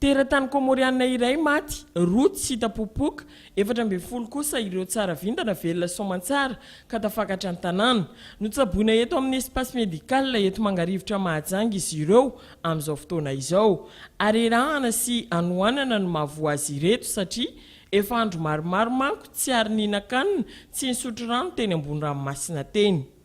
Teratany Kômôriana iray maty, roa tsy hita popoka, efatra ambin'ny folo kosa ireo tsara vintana velona soamantsara ka tafakatra an-tanàna. Notsaboina eto amin'ny Espace Médical eto Mangarivotra Mahajanga izy ireo amin'izao fotoana izao. Arerahana sy anohanana no mahavoa azy ireto satria efa andro maromaro manko tsy ary nihinan-kanina, tsy nisotro rano teny ambony ranomasina teny.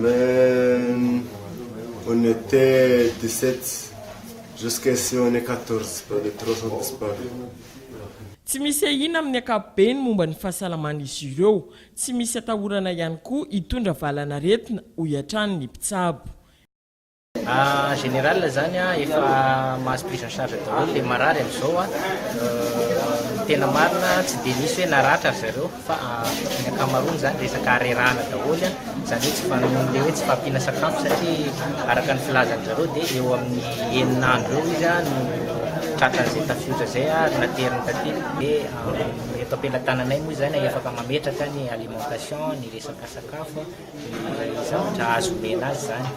Mais on était 17 jusqu'à ici on est 14 pour les 3 sont disparus. Tsy misy ahiana amin'ny ankapobeny momba ny fahasalaman'izy ireo. Tsy misy atahorana ihany koa hitondra valanaretina, hoy hatrany ny mpitsabo. En général zany a, efa mahazo prise en charge daholo le marary amzao a, ny tena marina tsy dia misy hoe naratra ry zareo fa ny ankamaroany zany resaka harerahana daholo a, zany hoe tsy fanohanana le hoe tsy fahampiana sakafo satria araka ny filazan'ny zareo dia eo amin'ny enina andro eo izy a no tratran'izay tafiotra zay a ary nateriny taty dia eto am-pelatananay moa izany a efaka mametraka ny alimentation, ny resaka sakafo a. zavatra azo omena azy izany.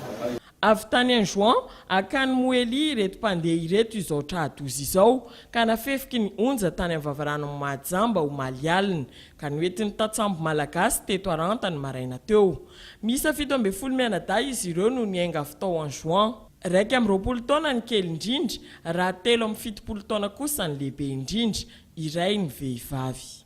Avy tany Anjouan akany Mohelly ireto mpandeha ireto izao tra-doza izao ka nafefiky ny onja tany amin'ny vavaranon'i Mahajamba omaly alina, ka noentin'ny tantsambo malagasy teto Aranta ny maraina teo. Miisa fito ambin'ny folo mianadahy izy ireo no niainga avy tao Anjouan. Iraika amby roapolo taona ny kely indrindra, raha telo amby fitopolo taona kosa ny lehibe indrindra, iray ny vehivavy.